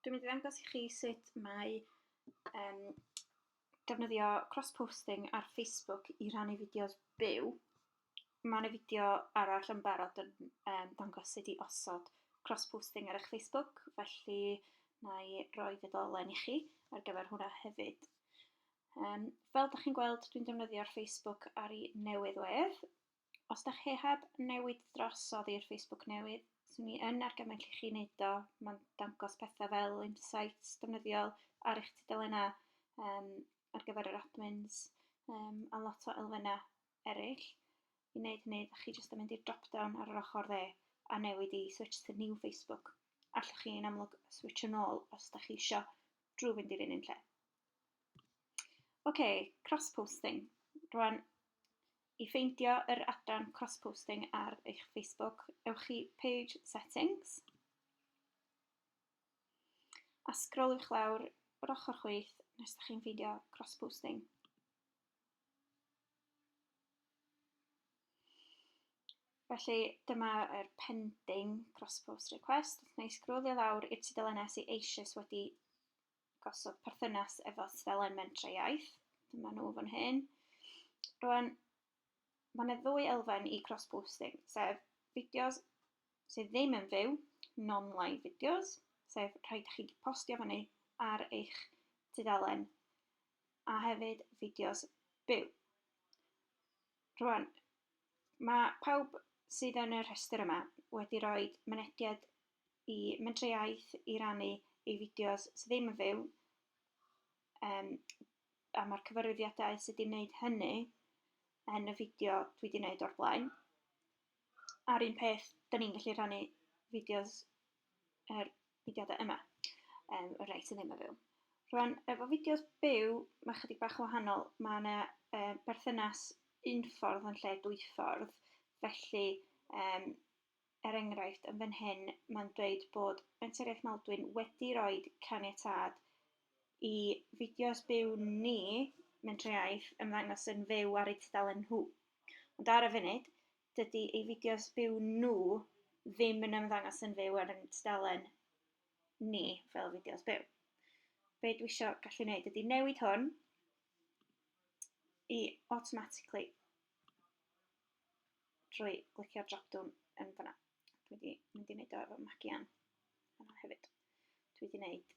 Dwi'n mynd i ddangos i chi sut mae um, defnyddio cross-posting ar Facebook i rannu fideos byw. Mae yna fideo arall yn barod yn um, dangos sut i osod cross-posting ar eich Facebook, felly na i roi ddolen i chi ar gyfer hwnna hefyd. Um, fel ydych chi'n gweld, dwi'n defnyddio'r Facebook ar ei newydd wedd, Os da chi heb newid dros oddi i'r Facebook newydd, swn i yn argymell i chi wneud o. Mae'n dangos pethau fel insights defnyddiol ar eich tudalennau um, ar gyfer yr admins um, a lot o elfennau eraill. I wneud hynny, da chi jyst yn mynd i'r drop-down ar yr ochr dde a newid i switch to new Facebook. Allwch chi yn amlwg switch yn ôl os da chi eisiau drwy fynd i'r un un lle. OK, cross-posting. Rwan, I ffeindio yr adran cross-posting ar eich Facebook, ewch i Page Settings, a sgroliwch lawr yr ochr chwith nes da chi'n ffeindio cross-posting. Felly dyma'r pending cross-post request. Wna i sgrolio lawr i'r tudalen nes i eisoes wedi gosod perthynas efo tudalen Mentrau Iaith. Dyma nhw fan hyn. Rwan, mae yna ddwy elfen i cross-posting, sef fideos sydd ddim yn fyw, non-live fideos, sef rhai da chi wedi postio fyny ar eich tudalen, a hefyd fideos byw. Rwan, mae pawb sydd yn y rhestr yma wedi rhoi mynediad i Mentrau Iaith i rannu eu fideos sydd ddim yn fyw, um, a mae'r cyfarwyddiadau sydd wedi wneud hynny yn y fideo dwi wedi wneud o'r blaen. A'r un peth, da ni'n gallu rhannu fideos yr er, fideodau yma, um, y rhai sydd ddim yn fyw. Rwan, efo fideos byw, mae chydig bach wahanol. Mae yna e, berthynas un ffordd yn lle dwy ffordd. Felly, um, er enghraifft, yn fan hyn mae'n dweud bod Menter Maldwyn wedi rhoi caniatâd i fideos byw ni, Menter Iaith, ymddangos yn fyw ar eu tudalen nhw. Ond ar y funud, dydy ei fideos byw nhw ddim yn ymddangos yn fyw ar ein tudalen ni fel fideos byw. Be dwi eisiau gallu gwneud ydy newid hwn i automatically drwy glicio'r drop-down yn fanna. Dwi wedi mynd i wneud o efo magian fanna hefyd. Dwi wedi wneud